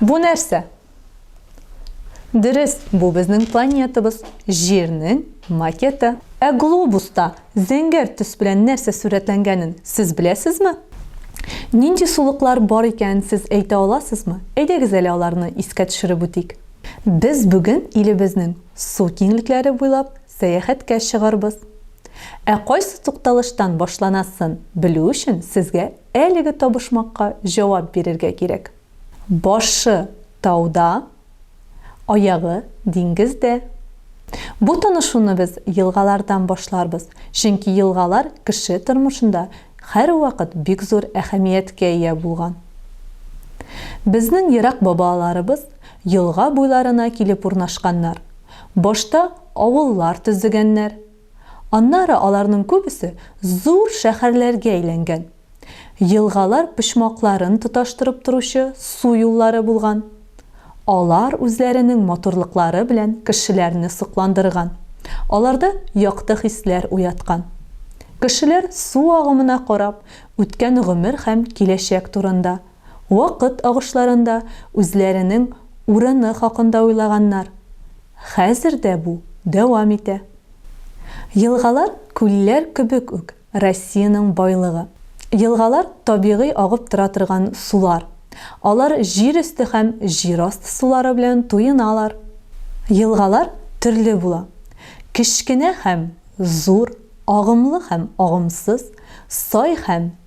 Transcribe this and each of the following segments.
Бу нәрсә? Дөрес, бу безнең планетабыз, Җирнең макеты. Ә глобуста зәңгәр төс белән нәрсә сурәтләнгәнен сез беләсезме? Нинди сулыклар бар икәнен сез әйтә аласызмы? Әйдәгез әле аларны искә төшереп үтик. Без бүген илебезнең су киңлекләре буйлап сәяхәткә чыгарбыз. Ә кайсы тукталыштан башланасын белү өчен сезгә Әлеге табышмакка җавап бирергә кирәк. Башы, тауда, аягы, диңгездә. Бу танышуны без елгалардан башларбыз, чөнки елгалар кеше тормышында һәрвакыт бик зур әһәмияткә ия булган. Безнең ерак бабаларыбыз елга буйларына килеп урнашканнар, башта авыллар төзегәннәр, Аннары аларның күбесе зур шәһәрләргә әйләнгән. Елгалар почмакларын тоташтырып торучы су юллары булган. Алар үзләренең матурлыклары белән кешеләрне сокландырган, аларда якты хисләр уяткан. Кешеләр су агымына карап, үткән гомер һәм киләчәк турында вакыт агышларында үзләренең урыны хакында уйлаганнар. Хәзер дә бу дәвам итә. Елгалар, күлләр кебек үк Россиянең байлыгы. Елгалар, табигый агып тора торган сулар. Алар җир өсте һәм җир асты сулары белән туеналар. Елгалар төрле була, кечкенә һәм зур, агымлы һәм агымсыз, сай һәм.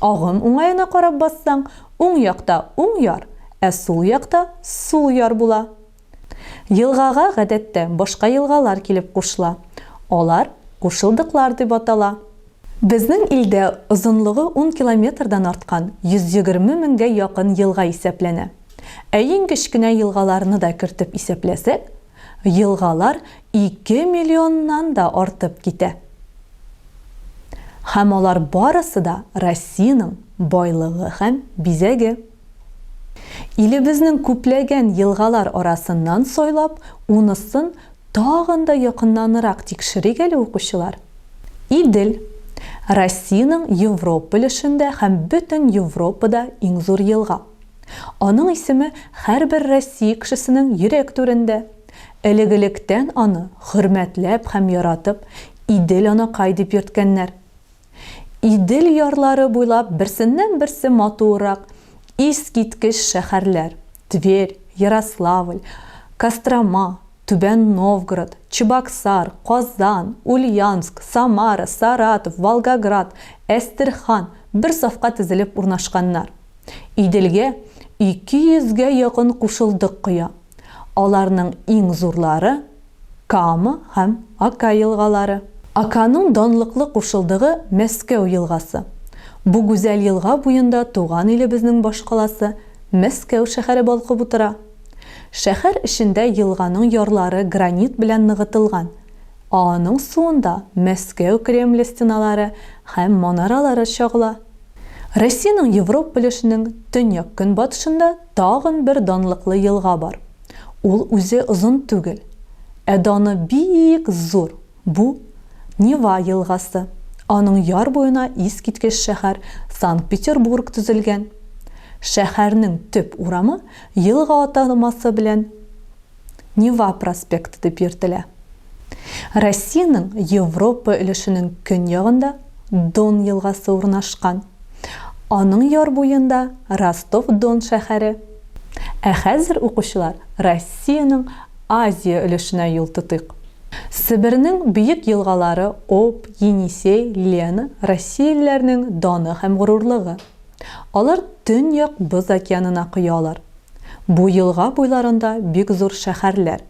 Агым уңаена карап бассаң, уң якта уң яр, ә сул якта сул яр була. Елгага гадәттә башка елгалар килеп кушыла. Алар кушылдыклар дип атала. Безнең илдә озынлыгы ун километрдан арткан 120 меңгә якын елга исәпләнә. Ә иң кечкенә елгаларны да кертеп исәпләсәк, елгалар ике миллионнан да артып китә. Һәм алар барысы да Россиянең байлыгы һәм бизәге. Илебезнең күпләгән елгалар арасыннан сайлап, унысын тагын да якыннанрак тикшерик әле, укучылар. Идел, Россиянең Европа өлешендә һәм бөтен Европада иң зур елга. Аның исеме һәрбер Россия кешесенең йөрәк түрендә. Элек-электән аны хөрмәтләп һәм яратып Идел анакай дип йөрткәннәр. Идел ярлары буйлап берсеннән-берсе матуррак, искиткеч шәһәрләр, Тверь, Ярославль, Кострома, Түбән Новгород, Чебоксар, Казан, Ульяновск, Самара, Саратов, Волгоград, Әстерхан бер сафка тезелеп урнашканнар. Иделгә 200 гә якын кушылдык коя. Аларның иң зурлары, Кама һәм Ока елгалары. Оканың данлыклы кушылдыгы Мәскәү елгасы. Бу гүзәл елга буенда туган илебезнең башкаласы Мәскәү шәһәре балкып утыра. Шәһәр эчендә елганың ярлары гранит белән ныгытылган, а аның суында Мәскәү Кремле стеналары һәм манаралары чагыла. Россиянең Европ өлешенең төньяк-көнбатышында тагын бер данлыклы елга бар. Ул үзе озын түгел, ә даны бик зур, бу, Нева елгасы. Аның яр буена искиткеч шәһәр Санкт-Петербург төзелгән. Шәһәрнең төп урамы елга атамасы белән Нева проспекты дип йөртелә. Россиянең Европа өлешенең көньягында Дон елгасы урнашкан. Аның яр буенда Ростов-Дон шәһәре. Ә хәзер, укучылар, Россиянең Азия өлешенә юл тотыйк. Себернең бөек елгалары Об, Енисей, Лена, россиялеләрнең даны һәм горурлыгы. Алар Төньяк Боз океанына коялар. Бу елга буйларында бик зур шәһәрләр,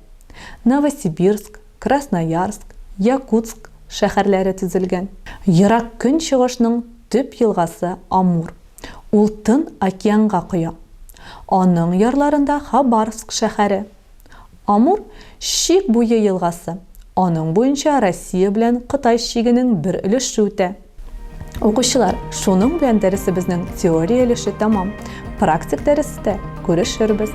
Новосибирск, Красноярск, Якутск шәһәрләре төзелгән. Ерак Көнчыгышның төп елгасы Амур. Ул Тын океанга коя. Аның ярларында Хабаровск шәһәре, Амур, Чик буе елгасы. Аның буенча Россия белән Кытай чигенең бер өлеше үтә. Укучылар, шуның белән дәресебезнең теория өлеше тәмам. Практик дәрестә күрешербез.